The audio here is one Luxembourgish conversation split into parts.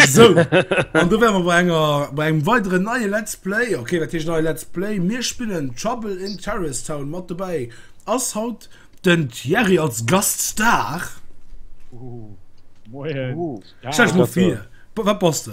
So, an du wären wir bei, enger, bei einem weiteren neue Let's Play. Okay, das ist neue Let's Play. Wir spielen Trouble in Terrace Town. Mit dabei ist heute den Thierry als Gaststar. Uh, moin. Uh, ja, Stell dich mal vor, was bist du?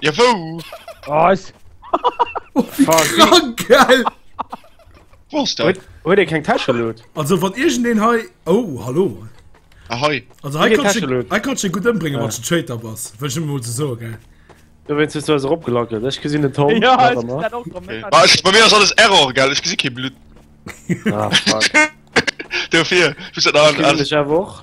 Ja wou? Oh is. Oh wéi krank gell! Wou ass dat? Huet ee keng Täscheluut? Also wann iergendeen hei. Oh hallo. Ah hei. Also hei kanns de hei kanns de gutt ëmbréngen wanns de Traitor bass. Wëll ech emol ze soe gell. Do wéinst hues du eis erop gelackelt. Ech gesinn den Tom. Jo ech gesinn dat och. Ech bei mir ass alles Error gell, ech gesi kee Blutt. Ah fuck. Dofir. Ech gesinn dech awer och.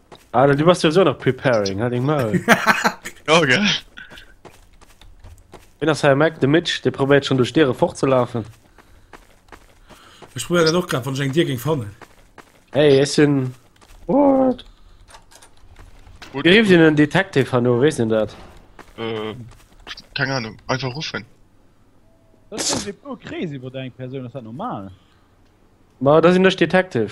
Alter, du warst ja so nach preparing, halt den Maul. Ja, gell? Wen ass Herr Mac? De Mitch, der probiert schon durch Diere fortzulaufen. Ich probiere dann auch gerade, wenn ich einen Dir ging fannen. Hey, es sind. What? Gut, Wie rief den einen Detective an, weißt du das? Äh, keine Ahnung, einfach rufen. Das ist so crazy über deine Person, das ist normal. Ma, das sind nicht Detective.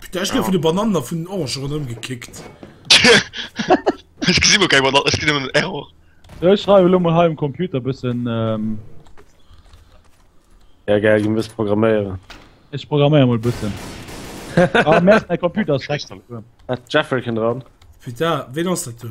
Putain, ech gouf vun de Banannen a vun den Orangen ronderëm gekickt. Ech gesi mol keng Banannen, ech ginn nëmmen en Error. Sou, ech schreiwe lo mol hei um Computer e bëssen. Ja gell, ginn wëss programméieren. Ech programméiere mol e bëssen. Ah Merd, mäi Computer ass dreckeg. Ass d'Jeffereken dran? Putain, ween ass dat do?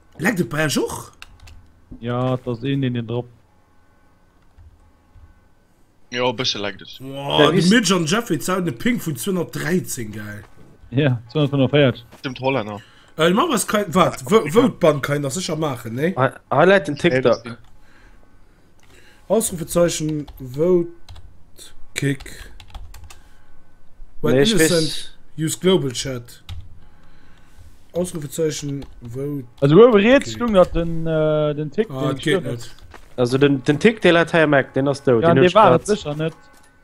Leckt et bei eech och? Ja, et ass een deen deen drop. Jo e bësse leckt et. Woah, de Mitch an Jeffrey Zau den Ping vun 213, geil. Ja, 245. Stimmt Hollänner. Ëh mach was kein, wat? Wou d'Bank kein nach secher maachen, nee? Hei läit den TikTok. Ausrufezeichen votekick while innocent use global chat Ausrufezeichen votekick Also uewe riets stoung nach den den Tick, deen et gëtt net. Also den den Tick dee läit hei am Eck, deen ass dout, deen huet ech grad.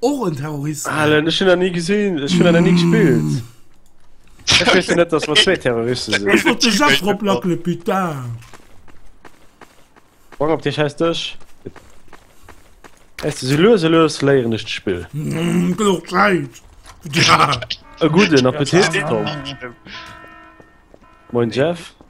Och en Terrorist. Allen, ech hunn dat ni gesinn, ech hunn dat nach ni gespillt. Ech weess jo net, dass mer zwee Terroriste sinn. Ech wollt de Jeff eroplackele, putain. Sprong op dee schäiss Dësch. Weißt du, sou lues a lues léieren ech d'Spill. Gëtt och Zäit. E gudden Appetit, Tom. Moin, Jeff.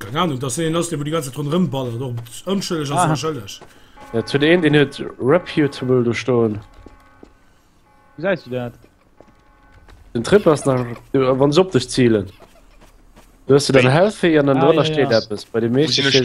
Keng Ahnung, dass een ass, dee wou déi ganze Zäit ronderëm ballert, och ëmschëlleg ass, ah. schëlleg. Ja, zu deen, deen huet reputable do stoen. Wou säis du dat? Den Trip ass nach, wann se op dech zielen. Du hast du dein Healthy an dann ah, drunner ja, steht ja. etwas. Bei dem Mädchen steht...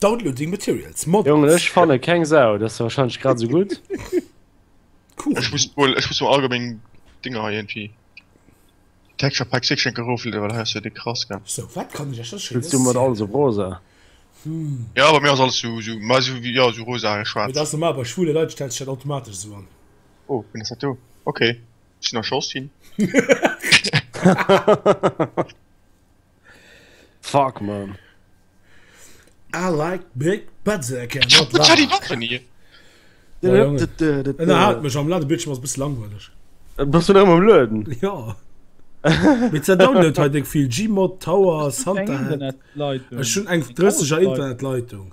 Downloading Materials. Mods. Jongen, ech fanne keng Sau, dat ass wahrscheinlech grad esou gutt. Cool. Ech muss wohl, ech muss wohl allgemein Dinger hei irgendwie. Texture Pack 6 schenke Rofel, weil hast du die krass, gell? So, wat kann ech ech das Spillst du mat alles op rosa? Ja, aber mir ist alles so, so, mal so wie, ja, so rosa, Mee schwarz. dat ass normal, bei schwule Leit stellt sech dat automatesch esou an. Oh, wen ass dat do? Okay. Sinn nach Chance ginn. Fuck man. I like big butts I can not lie. Den hat mech am Lade Bildschirm ass bis langweilig. Äh, Bass du am Lueden? Ja. Mit ze download hat eng vill Gmod Tower Santa. Ech hun eng 30er Internetleitung.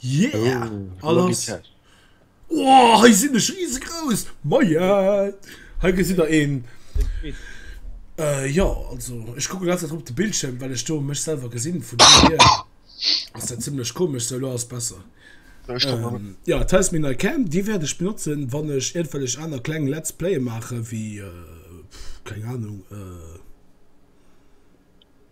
Yeah! Oh, Logitech. Oh, hei sinn ech riesegrouss! Moien! Hei gesitt der een. Äh, jo, also ech kucke ganz op de Bildschirm, well ech do mech selwer gesinn. Vun do hier ass dat zimmlech komesch. Sou, elo ass besser. Ähm, ja, dat heist meng nei Cam. Déi wäert ech benotzen, wann ech iergendwellech aner kleng Let's Playe maachen, wéi, äh, pff, keng Ahnung, äh.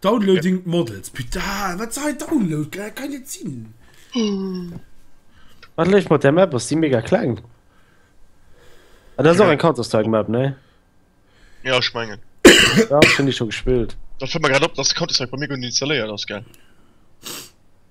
Downloading models putain wat sei download kann kann net sinn Wat leeft mat der Map ass déi mega kleng? Ah, dat ass och eng Counter-Strike Map, ne? Ja, ech mengen. Ja, ech hunn déi scho gespillt. Dat fält mer grad op, dass Counter-Strike bei mir guer net installéiert ass, gell?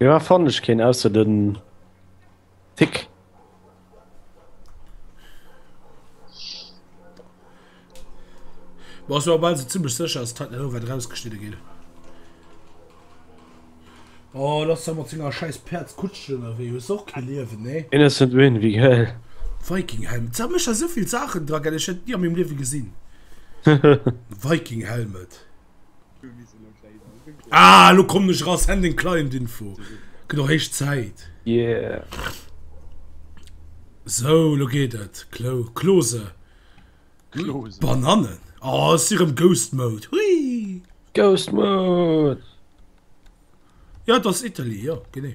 Joa fannen ech keen ausser den Tick. Boah, so bal se ziemlich sicher ass dat net wat rausgeschnidde gin. Oh lass der mat senger scheiß Perz Kutschen oder wéi hues och kee Liewen nee. Innocent Win wéi geil. Vikinghelm ze mech a souvill Saachen dra gell ech hätt nie a mengem Liewe gesinn Vikinghelmet. Ah, lo kommen ech raus, Handling Client Info. Gëtt och héich Zäit. Yeah. So, lo geet et. Klo, Klose. Klose. Bananen. Oh, es ist im Ghost Mode. Hui. Ghost Mode. Ja, das ist Italy, ja, genau.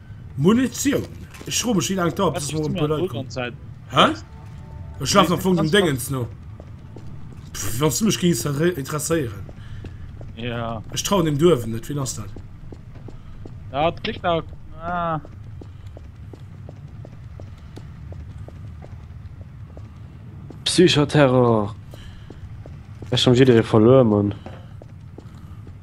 Munitioun. Ech fro mech wéi laang et dauert bis mol e puer Leit kommen. Hä? Ech laf am Fong dem Déngens no. Wann s du mech géings interesséieren. Ja. Ech trauen deem Duerwen net. Wien ass dat? Ja, et klickt nach. Ah. Psychoterror. Ech schon jidderee verluer, Mann.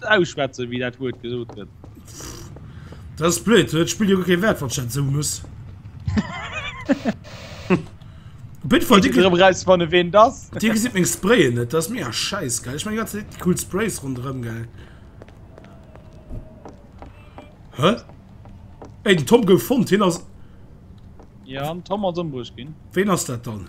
Ausschwätzen, wéi dat Wuert gesot gëtt. Pff, dat ass blöd. Dat spillt jo guer kee Wäert, wann ech dat esou muss. Op jidde Fall, Dir gesitt eräus, wann e weent ass. Dir gesitt meng Sprayen net. Dat ass mega schäiss, gell? Ech maache déi ganze Zäit déi cool Sprays ronderëm, gell? Hä? Ey, den Tom gouf fonnt. Hien ass. Jo, den Tom ass ëmbruecht ginn. Ween ass dat dann?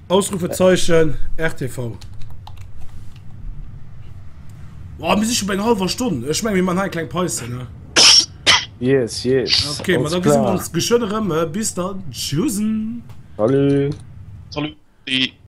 Ausrufezeichen rtv. Wow, mir si schon bei eng halber Stonn. Ech meng mir man ha eng kleng Päuse ne. Yes, yes. Okay, ma da gesi mir ons geschwënn erëm. Bis dann. Tschüssen. Salut. Salut.